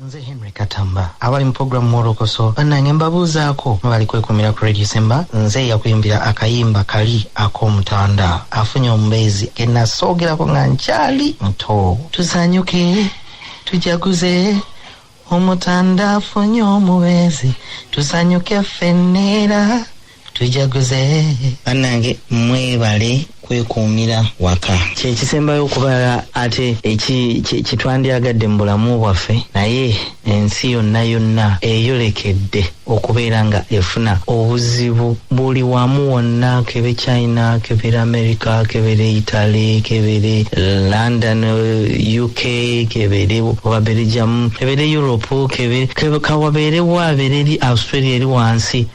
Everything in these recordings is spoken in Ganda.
Nze Henry Katamba abali mu program mwolokoso banange mbabuuzaako mwebali kwekumira ku Radio Simba nze yakuyimbira akayimba kali akomutanda afunye omubeezi genasoogerako nga nkyali muto tusanyuke tujaguze omutanda afunye omubeezi tusanyuke ffenneera tujaguze banange mwebale kwekuumira waka kyekisembayo okubala ate kitwandyagadde mu bulamu bwaffe naye ensi yonna yonna eyolekedde okubeera nga efuna obuzibu buli wamu wonna kebe china kebere america kebere italy kebere london uk kebere oba belgium kebere europe kebe kawabeerewo abeere eri australia eri wansi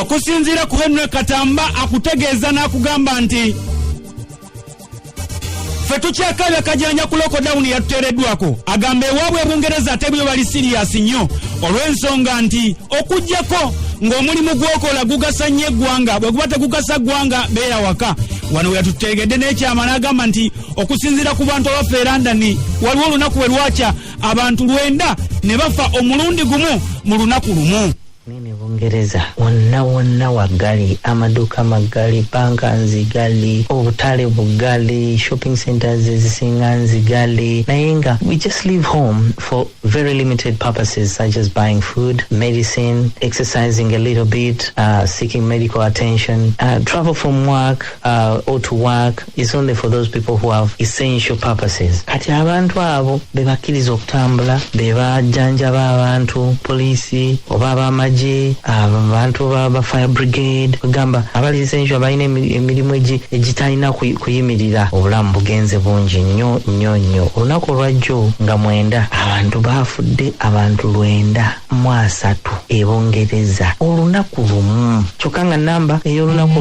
okusinziira ku henry katamba akutegeeza n'akugamba nti ffe tukyakaabya kajanja ku lokodawuni yatuteereddwako agamba ewaabwe ebungereza ate byo bali siriyasi nnyo olw'ensonga nti okugyako ng'omulimu gwokola gugasa nnyo eggwanga bwe guba tegugasa ggwanga beera waka wano we yatuteegedde n'ekyama n'agamba nti okusinziira ku bantu abaffe e londoni waliwo olunaku bwe lwakya abantu lwenda ne bafa omulundi gumu mu lunaku lumu Mimi Bungereza wonna wonna waggali, amaduuka maggali, bbanka nziggali, obutale buggali, shopping centres ezisinga nziggali naye nga we just leave home for very limited purposes such as buying food, medicine, exercising a little bit, uh, seeking medical attention, uh, travel from work, uh, or to work is only for those people who have essential purposes kati abantu abo bebakkiriza okutambula bebajjanjaba abantu poliisi oba abamagye abantu ba fire brigade ogamba abali essential abalina emirimu egitalina kuyimirira obulamu bugenze bungi nnyo nnyo nnyo olunaku olwajjo nga mwenda abantu baafudde abantu lwenda mu asatu e Bungereza olunaku lumu kyokka nga namba ey'olunaku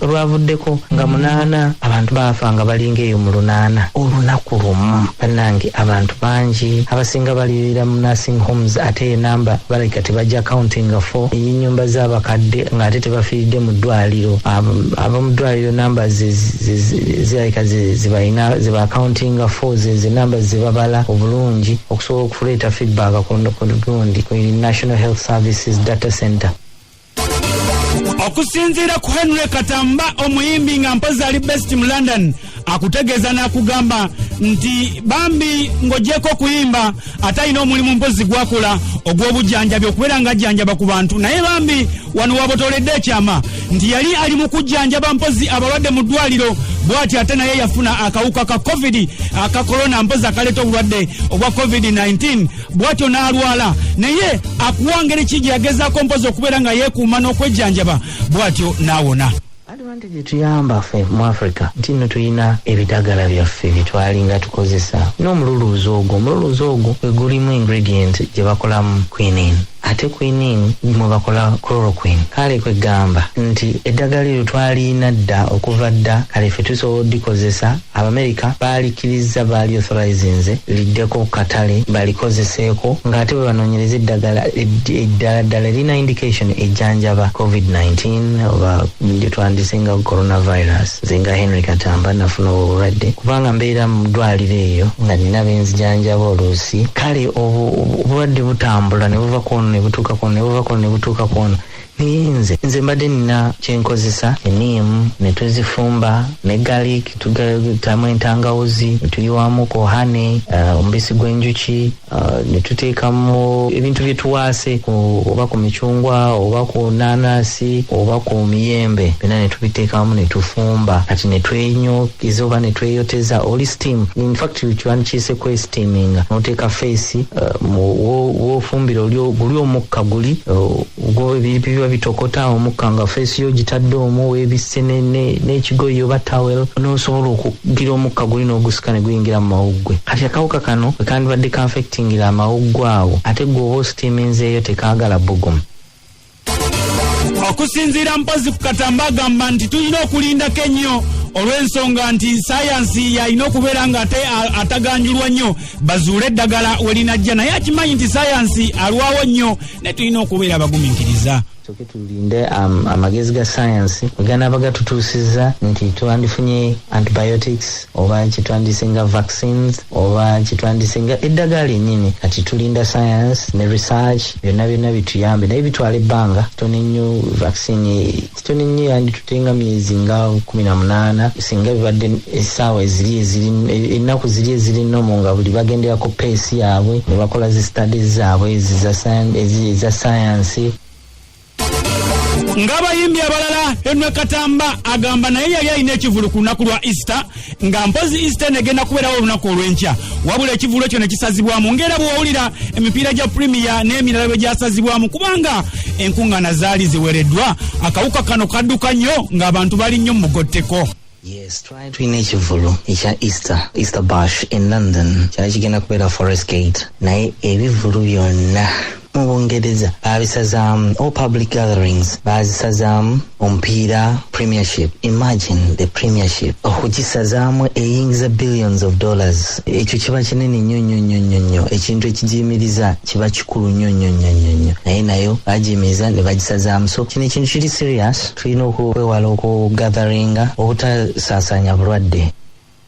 olwavuddeko nga munaana abantu baafa nga balinga eyo mu lunaana olunaku lumu bannange abantu bangi abasinga balirira mu nursing homes ate enamba balabika tebajja countinga fo ey'ennyumba z'abakadde ng'ate tebafiiridde mu ddwaliro abamu ddwaliro namba zirabika zebalina zeba countinga fo zezo enamba zebabala obulungi okusobola Tuleeta feedback ku gundi ku National Health Services Data Center. okusinziira ku henry katamba omuyimbi nga mpozi ali best mu london akutegeeza n'akugamba nti bambi ng'ogyeko okuyimba ate alina omulimu mpozi gwakula ogw'obujjanjabi okubeera ng'ajjanjaba ku bantu naye bambi wano wabotoledde ekyama nti yali ali mu kujjanjaba mpozi abalwadde mu ddwaliro bwati ate naye yafuna akawuka ka covid aka korona mpozi akaleeta obulwadde obwa covid-19 bwatyo n'alwala naye akuwa ngeri ki gye yagezaako mpozi okubeera nga yeekuuma n'okwejjanjaba bwatyo n'awona Advantage etuyamba ffe mu Africa nti nno tulina ebidagala byaffe bye twalinga tukozesa n'omululuuza ogwo. Omululuuza ogwo gwe gulimu ingredient gye bakolamu quinine ate quinine mwe bakola chloroquine. Kale kwe ggamba nti eddagala eryo twaliina dda okuva dda kale ffe tusobola oddikozesa. Abamerika baalikkirizza baaliothorizinze liddeko ku katale balikozeseeko ng'ate bwe banoonyereza eddagala eddala ddala erina indication ejjanjaba COVID-19 oba gye twandise nga coronavirus. Nze nga Henry Katamba nafuna obwo obulwadde kubanga mbeera mu ddwaaliro eyo nga nina be nzijanjaba oluusi. Kale obulwadde butambula ne buva ku ono ne butuuka ku ono ne buva ku ono ne butuuka ku ono. Naye nze nze mbadde nina kyenkozesa eniimu ne tuzifumba ne garlic tugatamu entangawuzi ne tuyiwamu ku hane uh, omubisi gw'enjuki uh, ne tuteekamu ebintu bye tuwaase ku- oba ku micungwa oba ku nanasi oba ku miyembe byonna ne tubiteekamu ne tufumba kati ne twenyokeza oba ne tweyoteza oli steam in fact kiwandikiise kwesteaminga n'oteeka feesi uh, mu- wo- wofumbira oli o- guli omukka guli uh, gwe ebintu biba bitokota omukka nga feesi yo ogitadde omwo weebisse ne- ne- n'ekigoyi oba towel n'osobola okugira omukka guli n'ogusika ne guyingira mu mawuggwe kati akawuka kano bwe kandibadde kanfectingira amawuggwe awo ate gwe oba ositiiminzeeyo tekaagala bbugumu okusinziira mpozi ku katamba agamba nti tulina okulindako ennyo olw'ensonga nti sayansi yalina okubeera nga ate a- ataganjulwa nnyo bazuule eddagala we linajja naye akimanyi nti sayansi alwawo nnyo naye tulina okubeera abagumiikiriza soke tulinde um, amagezi ga sayansi weganaaba gatutuusizza nti twandifunye antibiotics oba kyetwandisinga vaccines oba kyetwandisinga eddagala enyini kati tulinda sayansi ne research byonna byonna bituyambe naye bitwala ebbanga tone nnyo vaccine Tony nnyo yanditute nga myezi nga kumi na munaana singa bibadde essaawa eziri eziri ennaku ziri eziri nomu nga buli bagendera ku peesi yaabwe ne bakola zi studies zaabwe eza sayansi ng'abayimbi abalala henry katamba agamba naye yali alina ekivulu ku lunaku lwa easter nga mpozi eastern egenda kubeerawo olunaku olw'enkya wabula ekivuulo kyo ne kisazibwamu ngaera bwewawulira emipiira gya premier n'emirala bwe gyasazibwamu kubanga enkuŋŋaana zaali ziwereddwa akawuka kano kadduka nnyo ng'abantu bali nnyo mugotteko Yes, try to in ekivulu ekya Easter, Easter Bash in London. Kyali kigenda kubeera Forest Gate. Naye ebivulu byonna Mu Bungereza baabisazaamu, all public gatherings baazisazaamu omupiira premiership. Imagine the premiership okugisazaamu eyingiza billions of dollars. Ekyo kiba kinene nnyo nnyo nnyo nnyo nnyo, ekintu ekigiyimiriza kiba kikulu nnyo nnyo nnyo nnyo nnyo, naye nayo baagiyimiriza ne bagisazaamu. So kino ekintu kiri serious, tulina okwewala okugatharinga obutasaasaanya bulwadde.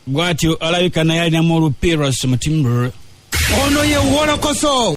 bwatyo alabika naye alinamu olupiras mutimbr ono ye wolokoso